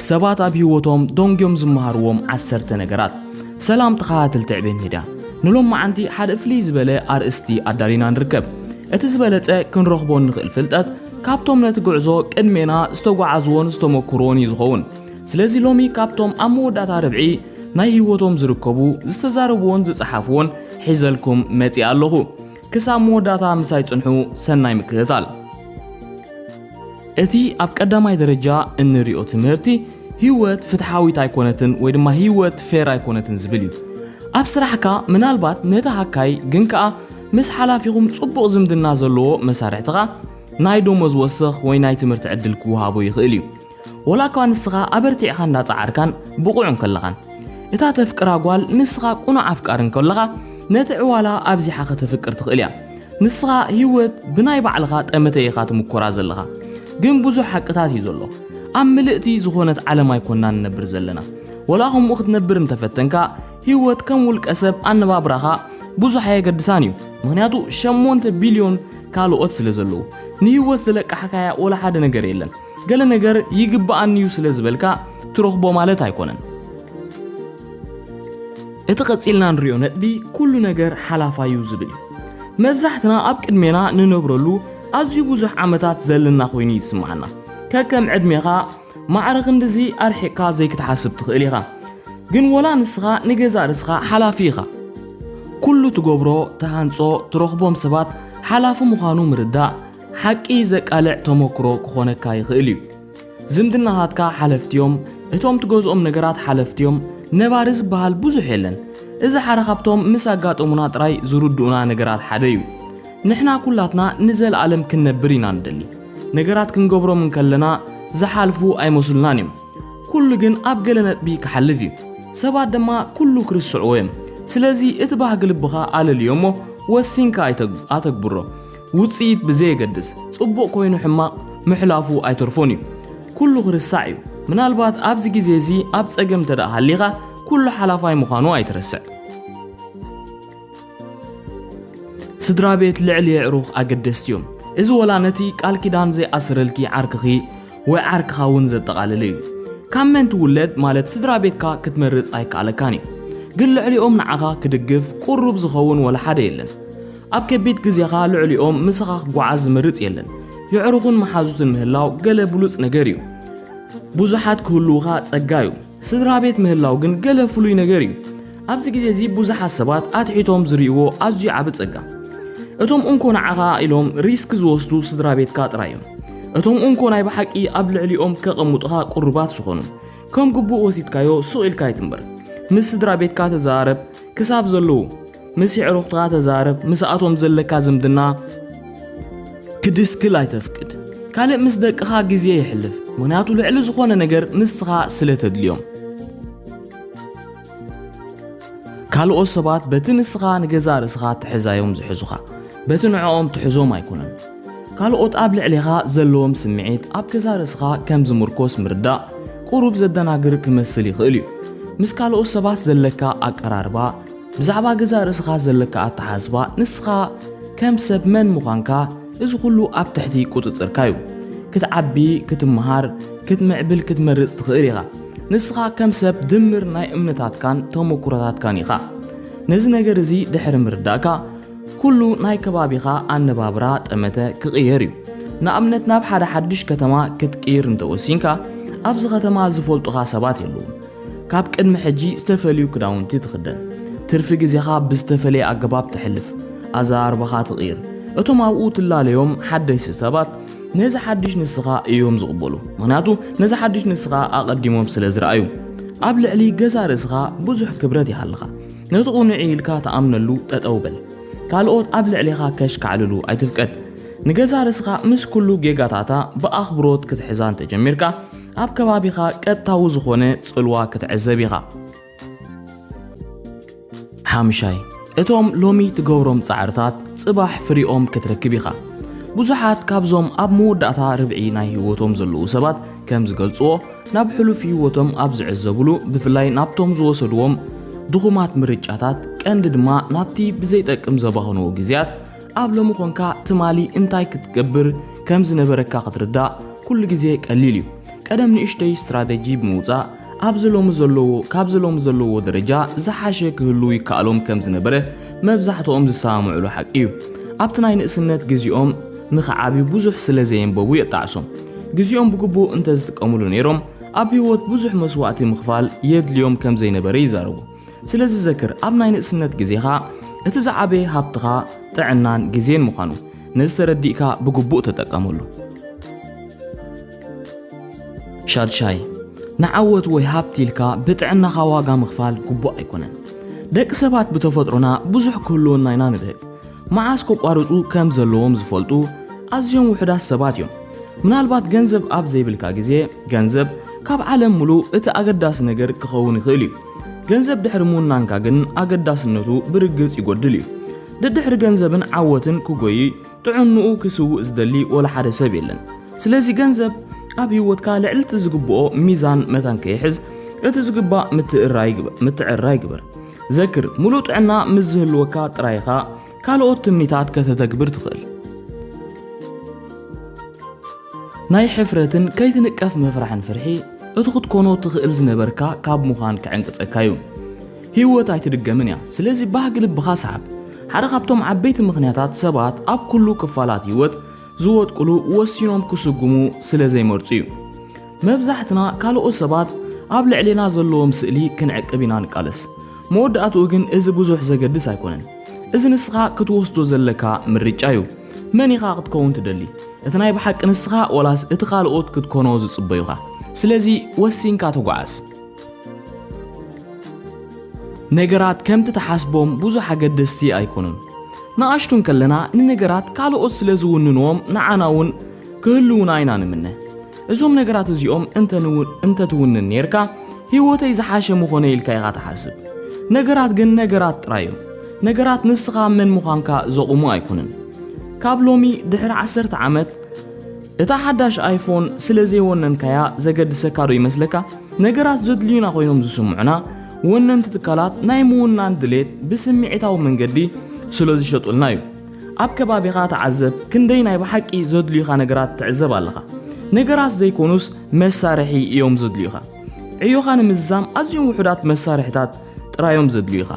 ሰባት ኣብ ህይወቶም ደንጊዮም ዝመሃርዎም ዓሰርተ ነገራት። ሰላም ተኸታተልቲ ዕቤት ሚድያ፣ ንሎማዓንቲ ሓደ ፍልይ ዝበለ ኣርእስቲ ኣዳሊና ንርከብ። እቲ ዝበለጸ ክንረኽቦ እንኽእል ፍልጠት ካብቶም ነቲ ጉዕዞ ቅድሜና ዝተጓዓዝዎን ዝተመኩርዎን እዩ ዝኸውን። ስለዚ ሎሚ ካብቶም ኣብ መወዳእታ ርብዒ ናይ ህይወቶም ዝርከቡ ዝተዛረብዎን ዝጸሓፍዎን ሒዘልኩም መጺኣ ኣለኹ። ክሳብ መወዳእታ ምሳይ ጽንሑ ሰናይ ምክትታል። እቲ ኣብ ቀዳማይ ደረጃ እንሪኦ ትምህርቲ ህይወት ፍትሓዊት ኣይኮነትን ወይ ድማ ህይወት ፌር ኣይኮነትን ዝብል እዩ። ኣብ ስራሕካ ምናልባት ነቲ ሃካይ ግን ከኣ ምስ ሓላፊኹም ጽቡቕ ዝምድና ዘለዎ መሳርሕትኻ ናይ ደሞዝ ወሰኽ ወይ ናይ ትምህርቲ ዕድል ክወሃቦ ይኽእል እዩ። ወላ እኳ ንስኻ ኣበርቲዕኻ እንዳጸዓርካን ብቑዕን ከለኻን፣ እታ ተፍቅራ ጓል ንስኻ ቁኑዕ ኣፍቃሪ እንከለኻ ነቲ ዕዋላ ኣብዚሓ ከተፍቅር ትኽእል እያ። ንስኻ ሂወት ብናይ ባዕልኻ ጠመተ ኢኻ ትምኮራ ዘለኻ። ግን ብዙሕ ሓቅታት እዩ ዘሎ። ኣብ ምልእቲ ዝኾነት ዓለም ኣይኮናን ንነብር ዘለና። ወላ ከምኡ ክትነብር እንተፈተንካ ሂወት ከም ውልቀ ሰብ ኣነባብራኻ ብዙሕ ኣየገድሳን እዩ። ምክንያቱ ሸሞንተ ቢልዮን ካልኦት ስለ ዘለዉ ንሂወት ዝለቃሕካያ ወላ ሓደ ነገር የለን። ገለ ነገር ይግብኣኒ'ዩ ስለ ዝበልካ ትረኽቦ ማለት ኣይኮነን። እቲ ቀጺልና ንሪኦ ነጥቢ ኩሉ ነገር ሓላፋዩ ዝብል እዩ። መብዛሕትና ኣብ ቅድሜና ንነብረሉ ኣዝዩ ብዙሕ ዓመታት ዘለና ኮይኑ እዩ ዝስምዓና። ከከም ዕድሜኻ ማዕረ ክንድዚ ኣርሒቕካ ዘይክትሓስብ ትኽእል ኢኻ። ግን ወላ ንስኻ ንገዛእ ርስኻ ሓላፊ ኢኻ። ኩሉ ትገብሮ፣ ትሃንጾ፣ ትረኽቦም ሰባት ሓላፊ ምዃኑ ምርዳእ ሓቂ ዘቃልዕ ተሞክሮ ክኾነካ ይኽእል እዩ። ዝምድናታትካ ሓለፍቲ እዮም፣ እቶም ትገዝኦም ነገራት ሓለፍቲ እዮም፣ ነባሪ ዝበሃል ብዙሕ የለን። እዚ ሓደ ካብቶም ምስ ኣጋጠሙና ጥራይ ዝርድኡና ነገራት ሓደ እዩ። ንሕና ኩላትና ንዘለኣለም ክንነብር ኢና ንደሊ። ነገራት ክንገብሮም እንከለና ዝሓልፉ ኣይመስሉናን እዮም። ኩሉ ግን ኣብ ገለ ነጥቢ ክሓልፍ እዩ። ሰባት ድማ ኩሉ ክርስዕዎ እዮም። ስለዚ እቲ ባህጊ ልብኻ ኣለልዮ እሞ ወሲንካ ኣተግብሮ። ውጽኢት ብዘየገድስ ጽቡቕ ኮይኑ ሕማቕ ምሕላፉ ኣይተርፎን እዩ። ኩሉ ክርሳዕ እዩ። ምናልባት ኣብዚ ግዜ እዚ ኣብ ጸገም እንተደኣ ሃሊኻ ኩሉ ሓላፋይ ምዃኑ ኣይትረስዕ። ስድራ ቤት ልዕሊ የዕሩኽ ኣገደስቲ እዮም። እዚ ወላ ነቲ ቃል ኪዳን ዘይኣስረልኪ ዓርክኺ ወይ ዓርክኻ እውን ዘጠቓልል እዩ። ካብ መን ትውለድ ማለት ስድራ ቤትካ ክትመርጽ ኣይከኣለካን እዩ። ግን ልዕሊኦም ንዓኻ ክድግፍ ቁሩብ ዝኸውን ወላ ሓደ የለን። ኣብ ከቢድ ግዜኻ ልዕሊኦም ምሳኻ ክጓዓዝ ዝመርጽ የለን። የዕሩኽን መሓዙትን ምህላው ገለ ብሉጽ ነገር እዩ። ብዙሓት ክህልዉኻ ጸጋ እዩ። ስድራ ቤት ምህላው ግን ገለ ፍሉይ ነገር እዩ። ኣብዚ ግዜ እዚ ብዙሓት ሰባት ኣትሒቶም ዝርእይዎ ኣዝዩ ዓቢ ጸጋ እቶም እንኮ ንዓኻ ኢሎም ሪስክ ዝወስዱ ስድራ ቤትካ ጥራይ እዮም እቶም እንኮ ናይ ብሓቂ ኣብ ልዕሊኦም ከቐምጡኻ ቅሩባት ዝኾኑ ከም ግቡእ ወሲድካዮ ሱቕ ኢልካ ይትንበር ምስ ስድራ ቤትካ ተዘራረብ ክሳብ ዘለዉ ምስ የዕሩኽትኻ ተዛረብ፣ ምስኣቶም ዘለካ ዝምድና ክድስክል ኣይተፍቅድ። ካልእ ምስ ደቅኻ ግዜ የሕልፍ፣ ምኽንያቱ ልዕሊ ዝኾነ ነገር ንስኻ ስለ ተድልዮም። ካልኦት ሰባት በቲ ንስኻ ንገዛእ ርእስኻ ትሕዛዮም ዝሕዙኻ፣ በቲ ንዕኦም ትሕዞም ኣይኮነን። ካልኦት ኣብ ልዕሌኻ ዘለዎም ስምዒት ኣብ ገዛእ ርእስኻ ከም ዝምርኮስ ምርዳእ ቁሩብ ዘደናግር ክመስል ይኽእል እዩ። ምስ ካልኦት ሰባት ዘለካ ኣቀራርባ ብዛዕባ ገዛእ ርእስኻ ዘለካ ኣተሓሳስባ፣ ንስኻ ከም ሰብ መን ምዃንካ፣ እዚ ኹሉ ኣብ ትሕቲ ቁጽጽርካ እዩ። ክትዓቢ፣ ክትመሃር፣ ክትምዕብል ክትመርጽ ትኽእል ኢኻ። ንስኻ ከም ሰብ ድምር ናይ እምነታትካን ተሞኩሮታትካን ኢኻ። ነዚ ነገር እዚ ድሕሪ ምርዳእካ፣ ኩሉ ናይ ከባቢኻ ኣነባብራ፣ ጠመተ፣ ክቕየር እዩ። ንኣብነት ናብ ሓደ ሓድሽ ከተማ ክትቅይር እንተ ወሲንካ፣ ኣብዚ ከተማ ዝፈልጡኻ ሰባት የለዉን። ካብ ቅድሚ ሕጂ ዝተፈልዩ ክዳውንቲ ትኽደን፣ ትርፊ ግዜኻ ብዝተፈለየ ኣገባብ ተሕልፍ፣ ኣዘራርባኻ ትቕይር። እቶም ኣብኡ ትላለዮም ሓደስቲ ሰባት ነዚ ሓድሽ ንስኻ እዮም ዝቕበሉ፣ ምኽንያቱ ነዚ ሓድሽ ንስኻ ኣቐዲሞም ስለ ዝረኣዩ። ኣብ ልዕሊ ገዛእ ርእስኻ ብዙሕ ክብረት ይሃልኻ። ነቲ ቅኑዕ'ዩ ኢልካ ትኣምነሉ ጠጠው በል። ካልኦት ኣብ ልዕሌኻ ከሽካዕልሉ ኣይትፍቀድ። ንገዛእ ርእስኻ ምስ ኩሉ ጌጋታታ ብኣኽብሮት ክትሕዛ እንተጀሚርካ፣ ኣብ ከባቢኻ ቀጥታዊ ዝኾነ ጽልዋ ክትዕዘብ ኢኻ። ሓምሻይ፣ እቶም ሎሚ ትገብሮም ጻዕርታት ጽባሕ ፍሪኦም ክትረክብ ኢኻ። ብዙሓት ካብዞም ኣብ መወዳእታ ርብዒ ናይ ህይወቶም ዘለዉ ሰባት ከም ዝገልጽዎ፣ ናብ ሕሉፍ ህይወቶም ኣብ ዝዕዘብሉ፣ ብፍላይ ናብቶም ዝወሰድዎም ድኹማት ምርጫታት፣ ቀንዲ ድማ ናብቲ ብዘይጠቅም ዘባኽንዎ ግዜያት፣ ኣብ ሎሚ ኮንካ ትማሊ እንታይ ክትገብር ከም ዝነበረካ ክትርዳእ ኩሉ ግዜ ቀሊል እዩ። ቀደም ንእሽተይ ስትራተጂ ብምውጻእ ኣብዚ ሎሚ ዘለዎ ካብዚ ሎሚ ዘለዎ ደረጃ ዝሓሸ ክህሉ ይከኣሎም ከም ዝነበረ መብዛሕትኦም ዝሰማምዕሉ ሓቂ እዩ። ኣብቲ ናይ ንእስነት ግዜኦም ንኽዓብዩ ብዙሕ ስለ ዘየንበቡ የጣዕሶም። ግዜኦም ብግቡእ እንተዝጥቀምሉ ነይሮም ኣብ ህይወት ብዙሕ መስዋእቲ ምኽፋል የድልዮም ከም ዘይነበረ ይዛረቡ። ስለዚ ዘክር፣ ኣብ ናይ ንእስነት ግዜኻ እቲ ዝዓበየ ሃብትኻ ጥዕናን ግዜን ምዃኑ፣ ነዚ ተረዲእካ ብግቡእ ተጠቀመሉ። ሻድሻይ፣ ንዓወት ወይ ሃብቲ ኢልካ ብጥዕናኻ ዋጋ ምኽፋል ግቡእ ኣይኮነን። ደቂ ሰባት ብተፈጥሮና ብዙሕ ክህልወና ኢና ንብህግ። መዓስ ከቋርጹ ከም ዘለዎም ዝፈልጡ ኣዝዮም ውሑዳት ሰባት እዮም። ምናልባት ገንዘብ ኣብ ዘይብልካ ግዜ፣ ገንዘብ ካብ ዓለም ምሉእ እቲ ኣገዳሲ ነገር ክኸውን ይኽእል እዩ። ገንዘብ ድሕሪ ምውናንካ ግን ኣገዳስነቱ ብርግጽ ይጎድል እዩ። ደድሕሪ ገንዘብን ዓወትን ክጎይይ ጥዕንኡ ክስውእ ዝደሊ ወላ ሓደ ሰብ የለን። ስለዚ ገንዘብ ኣብ ህይወትካ ልዕልቲ ዝግብኦ ሚዛን መታን ከይሕዝ እቲ ዝግባእ ምትዕርራይ ግበር። ዘክር፣ ምሉእ ጥዕና ምስ ዝህልወካ ጥራይ ኢኻ ካልኦት ትምኒታት ከተተግብር ትኽእል። ናይ ሕፍረትን ከይትንቀፍ ምፍራሕን ፍርሒ እቲ ክትኮኖ ትኽእል ዝነበርካ ካብ ምዃን ክዕንቅጸካ እዩ። ህይወት ኣይትድገምን እያ፣ ስለዚ ባህጊ ልብኻ ስዓብ። ሓደ ካብቶም ዓበይቲ ምኽንያታት ሰባት ኣብ ኩሉ ክፋላት ህይወት ዝወድቅሉ ወሲኖም ክስጉሙ ስለ ዘይመርጹ እዩ። መብዛሕትና ካልኦት ሰባት ኣብ ልዕሌና ዘለዎም ስእሊ ክንዕቅብ ኢና ንቃለስ። መወዳእትኡ ግን እዚ ብዙሕ ዘገድስ ኣይኮነን። እዚ ንስኻ ክትወስዶ ዘለካ ምርጫ እዩ። መን ኢኻ ክትከውን ትደሊ? እቲ ናይ ብሓቂ ንስኻ ወላስ እቲ ካልኦት ክትኮኖ ዝጽበዩኻ? ስለዚ ወሲንካ ተጓዓዝ። ነገራት ከምቲ ትሓስቦም ብዙሕ ኣገደስቲ ኣይኮኑን። ንኣሽቱ እንከለና ንነገራት ካልኦት ስለ ዝውንንዎም ንዓና እውን ክህልዉና ኢና ንምነ። እዞም ነገራት እዚኦም እንተትውንን ኔርካ ህይወተይ ዝሓሸ ምኾነ ኢልካ ኢኻ ትሓስብ ነገራት ግን ነገራት ጥራይ እዮም ነገራት ንስኻ መን ምዃንካ ዘቑሙ ኣይኮነን ካብ ሎሚ ድሕሪ ዓሰርተ ዓመት እታ ሓዳሽ ኣይፎን ስለ ዘይወነንካያ ዘገድሰካ ዶ ይመስለካ ነገራት ዘድልዩና ኮይኖም ዝስምዑና ወነንቲ ትካላት ናይ ምውናን ድሌት ብስምዒታዊ መንገዲ ስለ ዝሸጡልና እዩ ኣብ ከባቢኻ ተዓዘብ፣ ክንደይ ናይ ብሓቂ ዘድልዩኻ ነገራት ትዕዘብ ኣለኻ። ነገራት ዘይኮኑስ መሳርሒ እዮም ዘድልዩኻ። ዕዮኻ ንምዝዛም ኣዝዮም ውሑዳት መሳርሒታት ጥራዮም ዘድልዩኻ።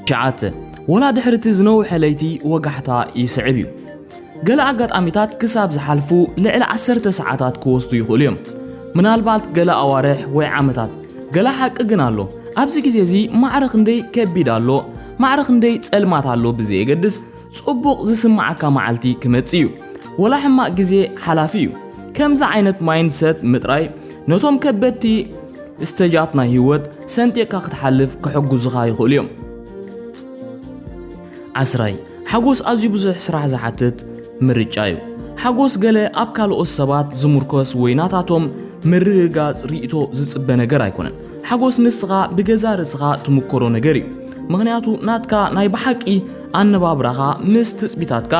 ትሽዓተ፣ ወላ ድሕሪ እቲ ዝነውሐ ለይቲ ወጋሕታ ይስዕብ እዩ። ገለ ኣጋጣሚታት ክሳብ ዝሓልፉ ልዕሊ ዓሰርተ ሰዓታት ክወስዱ ይኽእሉ እዮም፣ ምናልባት ገለ ኣዋርሕ ወይ ዓመታት። ገለ ሓቂ ግን ኣሎ፣ ኣብዚ ግዜ እዚ ማዕረ ክንደይ ከቢድ ኣሎ፣ ማዕረ ክንደይ ጸልማት ኣሎ ብዘየገድስ፣ ጽቡቕ ዝስምዓካ መዓልቲ ክመጽእ እዩ። ወላ ሕማቕ ግዜ ሓላፊ እዩ። ከምዚ ዓይነት ማይንድሰት ምጥራይ ነቶም ከበድቲ ስተጃት ናይ ህይወት ሰንጢቕካ ክትሓልፍ ክሕግዙኻ ይኽእሉ እዮም። ዓስራይ፣ ሓጎስ ኣዝዩ ብዙሕ ስራሕ ዝሓትት ምርጫ እዩ። ሓጎስ ገለ ኣብ ካልኦት ሰባት ዝሙርኮስ ወይ ናታቶም ምርግጋጽ ርእይቶ ዝጽበ ነገር ኣይኮነን። ሓጎስ ንስኻ ብገዛእ ርእስኻ ትምኮሮ ነገር እዩ። ምኽንያቱ ናትካ ናይ ብሓቂ ኣነባብራኻ ምስ ትጽቢታትካ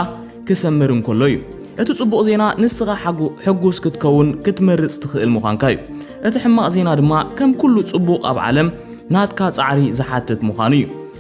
ክሰምር እንከሎ እዩ። እቲ ጽቡቕ ዜና ንስኻ ሕጉስ ክትከውን ክትመርጽ ትኽእል ምዃንካ እዩ። እቲ ሕማቕ ዜና ድማ ከም ኩሉ ጽቡቕ ኣብ ዓለም ናትካ ጻዕሪ ዝሓትት ምዃኑ እዩ።